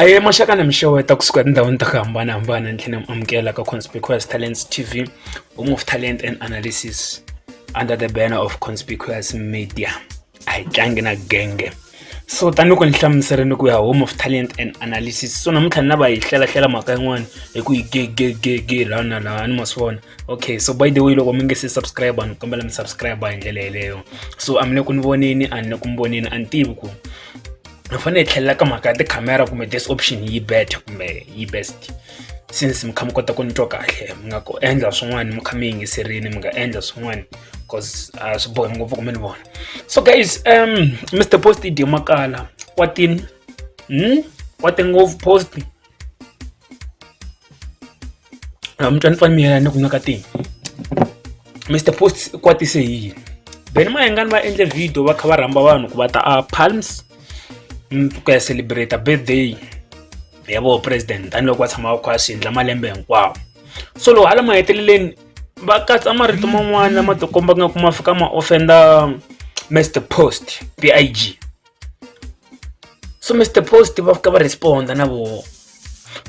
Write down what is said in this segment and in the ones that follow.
a hi maxaka na mixeweta kusuka etindhawini ta ku hambanahambana ni tlhela mi amukela ka conspicuous talents tv home of talent and analysis under the banner of conspicuous media a hi tlangi na genge so tanihi ku ni hlamuserile ku ya home of talent and analysis so namuntlha ni lava hi hlelahlela mhaka yin'wana hi ku yi gegegege laha na laha ni ma swi vona okay so by the way loko mi nge se subscribe ni kombela mi subscribe hi ndlela yeleyo so a mi le ku ni voneni a ni le ku mi voneni a ni tivi ku hi fanele hi tlhelela ka mhaka ya tikhamera kumbe this option yi better kumbe yi best since mi kha mi kota ku nitwa kahle mi nga ku endla swin'wana mi kha mi yingiserini mi nga endla swin'wana cause a ah, swi bohi ngopfu ku mi ni vona so guys um mr post dyo makala wa tini hmm? wa ti ngopfu post a mi twa ni pfamiyela ni ku nyaka tini mr post kwatise hi yini then mayengani va endle video va kha va rhamba vanhu ku va ta a palms mm, ku ya celebrate birthday ya vo president tanihiloko va tshama va kha va swi endla malembe hinkwawo so loko hala maheteleleni va katsa marito man'wana lama tikomba nga ku ma fika ma offenda mr post pig so mr post va fika va responda na voho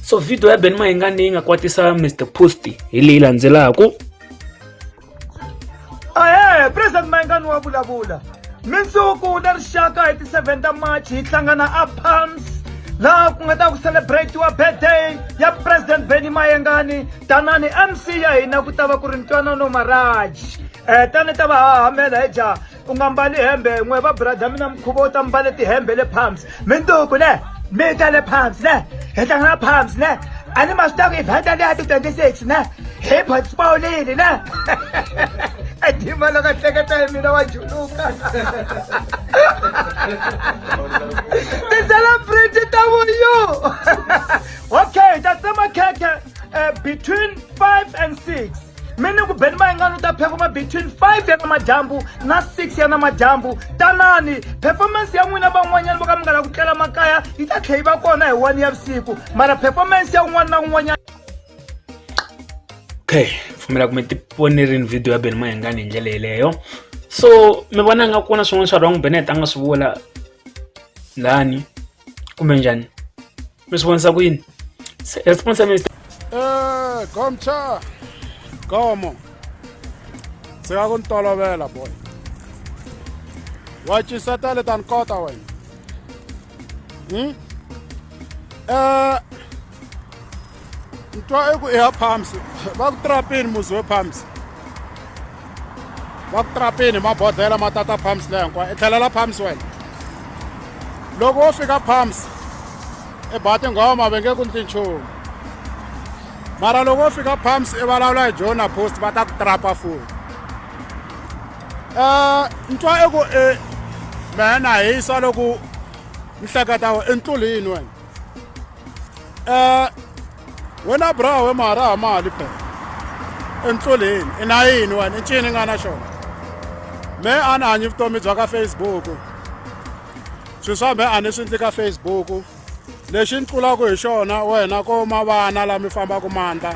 so video ya ben mahinga leyi nga kwatisa mr post hi leyi landzelaka ahe president mayingani wa vulavula mindzuku na rixaka hi ti 7 ta march hi hlangana a palms laha ku nga ta ku celebratiwa birthday ya president benny mayengani tanani mc ya hina ku ta va ku ri ntwanano maraji um tani ta va hahamela hi ja u nga mbali hembe n'we va brada mina mukhuva u ta mbale tihembe le palms minduku ne mi ta le palms ne hi tlanga na palms ne a ni ma swi taku evhenta leya ti twenty six ne hi potspawulile ne edima loko hleketa hi mina wa juluka ti-celebrity ta vuyu okay ta tsema khekhe eh, between five and six mi ni ku beni mayingani u ta phefoma between 5 ya namadyambu na 6 ya namadyambu tanani performance ya n'wina van'wanyana vo ka mi nga la ku tlela makaya yi ta tlhe yi va kona hi 1 ya vusiku mara performance ya un'wana na un'wanyana okay pfumela ku mi ti vonerini video ya beni mayingani hi ndlela yeleyo so mi vona nga ku na swin'wana swa wrong benet a nga swi vula lani kumbe njhani mi swi vonisa ku yini Se- response ya mina Eh, Gomcha. Gomo. Sika ku ntolovela boy. Wa chiseta le tan kota wena. Hmm? Eh, ni twa eku i ya pumps va ku trapini muzi we pumps va ku trapini mabodhlela ma tata pumps leyi hinkwayo i tlhelela pumps wena loko wo fika pumps i ba tinghoma va nge ku ni tinchumu mara loko wo fika pumps i vulavula hi jona post va ta ku trapa futi um ni twa eku i mehe na hisa loko ni hleketa i ntluli yini wena um wena brawe ma ra ha mali phela entloleni i na yini wena i ncini nga na xona me a ni hanyi vutomi bya ka facebook swilo swa me a ni swi ndli ka facebook lexi ni tlulaka hi xona wena ko ma vana lama mi fambaka mandla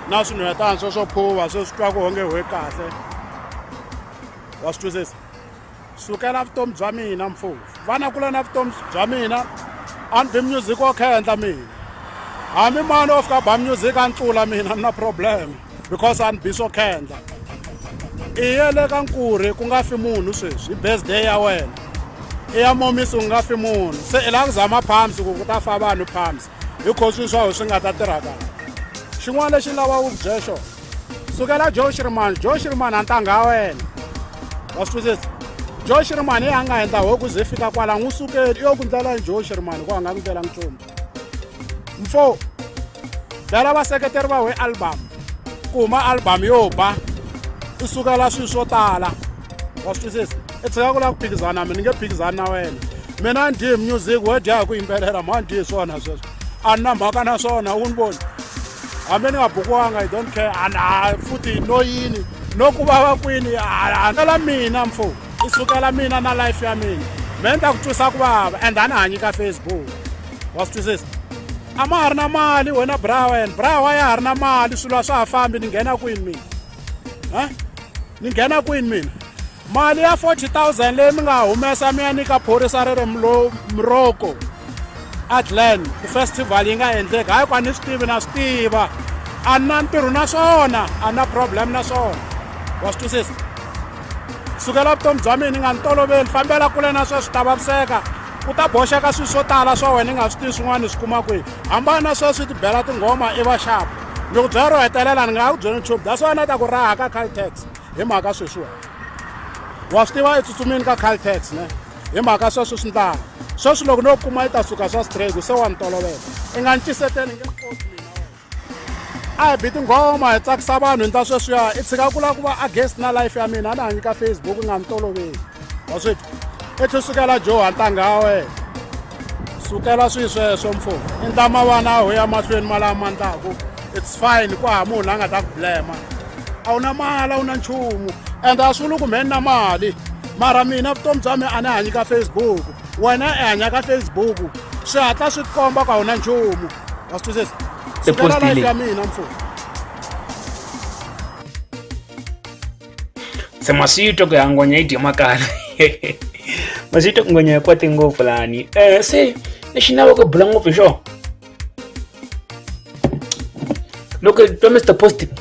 na swinhwetani swo swo phuva swo swi twa ku onge hwe kahle wa swi twisisa sukela vutomi bya mina mfufu vana kula na vutomi bya mina a ni bi music wo khendla mina hambi mani o fika ba music a ni tlula mina ni na problem because a ni bi swo khendla i ye le ka nkurhi ku nga fi munhu sweswi i birthday ya wena i ya momisi u nga fi munhu se i lava ku zama palms ku ku ta fa vanhu palms hi kho swilo swa ho swi nga ta tirha kahle xin'wana lexi ni lava ku byela xona sukela josh rimani josh rimani antangha ya wena wa swi twisisa josh rimani yi a nga endla hoku ze fika kwala n'wi sukeli i yo ku ndlela josh rimani ku a nga ku ndlela nchumu mfo bela vaseketeri va we album ku huma album yo ba i sukela swilo swo tala wa swi twisisa i tshika ku lava ku phikizana mi ni nge phikizani na wena mina ni dye music wo dya hi ku yimbelela ma ni dyi hi swona sweswo a ni na mhaka na swona u ni voni hambi ni nga bukiwanga i don't care and a futhi no yini no ku vava kwini handlela mina mfo i sukela mina na life ya mina me ni ta ku twisa ku vava and a ni hanyi ka facebook wa swi twisisa a ma ha ri na mali wena bra wena bra wa ya ha ri na mali swilo a swa ha fambi ni nghena kwini mina a ni nghena kwini mina mali ya 40000 leyi mi nga humesa mi ya nyika phorisa ri ri muroko adlan ku festival yi nga endleki hayi ku a ni swi tivi na swi tiva a ni na ntirho na swona a ni na problem na swona wa swi twisisa sukela vutomi bya mina ni nga ni toloveli fambela kule na sweswi ta vaviseka u ta boxeka swilo swo tala swa wena i nga swi tivi swin'wana ni swi kuma kwihi hambana na sweswi ti bela tinghoma i vaxapu loko byela ro hetelela ni nga ha ku byela nchumu that's why na ta ku raha ka caltex hi mhaka sweswiwa wa swi tiva etsutsumini ka caltex ne hi mhaka sweswo swi ndlanga sweswi loko no kuma yi ta suka swa straight se wa ni tolovela i nga ni tiseteni nge a hi bi tinghoma hi tsakisa vanhu hi ndza sweswiya i tshika ku lava ku va against na life ya mina a ni hanyi ka facebook i nga ni toloveli waswitwa etlhe sukela joha ntanga wa wena sukela swi sweswo mfumo i ndlama vana aho ya mahlweni malama ma ndlaku it's fine ku ha munhu a nga ta ku blema a wu na mali a wu na nchumu and a swi vuli ku mheni na mali mara mina vutomi bya mina a ni hanyi ka facebook wena i hanya ka facebook swi hatla swi tikomba ku a wu na nchumu wa swi twisisa sukela life ya mina mfumo se masito ku ya ngonya yi dye makala masito ku ngonya yi kwate ngopfu lani um se lexi ni lavaka bula ngopfu hi xona loko hi twa mr positive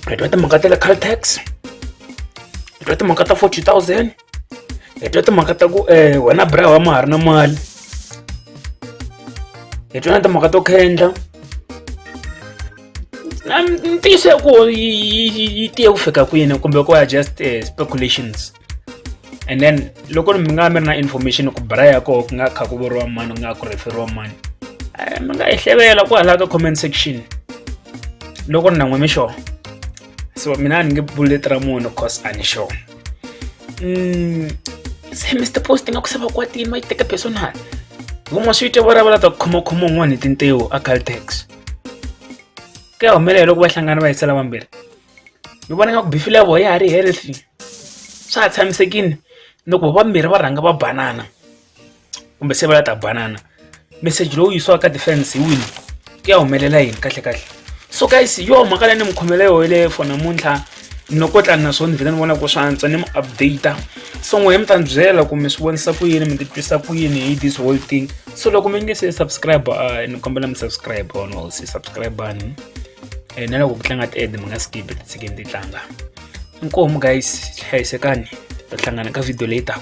hi twa timhaka ta le caltex hi twa timhaka ta forty thousand hi twa timhaka ta ku um wena bra wa ma ha ri na mali hi twa na timhaka to khendla ntiyiso ya ku yi tiye ku fika kwini kumbe ku ya just eh, speculations and then loko mi nga mi ri na information ku bra ya koho ku nga kha ku vuriwa mani ku nga ku referiwa mani eh, mi nga yi hlevela kwalaha ka comment section loko ni na n'we mi xona so mina a ni nge buleti ra munhu cause a ni xona Mm, se Mr. Post nga ku sava kwatini ma yi teka personal. Vumwa swi te vulavula ta khomokhoma un'wana hi tintiwo a Caltex. Ku ya humelela loko va hlangana va hisela vambirhi. Ni vona nga ku bifi level ya ha ri healthy. Swa ha tshamisekile loko vambirhi va rhanga va banana. kumbe se va la ta banana meseji lowu yisiwaka ka defense hi wini ku ya humelela yini kahle kahle so guys yo mhaka leyi ni mi khomela yoho yeleyo for namuntlha no ko tlani naswona ni vhele ni vona ku swi antswa ni mi updata so n'wehe mi ta ni byela ku mi swi vonisa ku yini mi titwisa ku yini hi this whole thing so loko mi nge se subscribe uh, ni kombela mi subscribe on all se subscribe ani eh, na loko ku tlanga ti-ad mi nga skipi titshikeni ti tlanga inkomu guys hlayisekani ta hlangana ka video leyi taka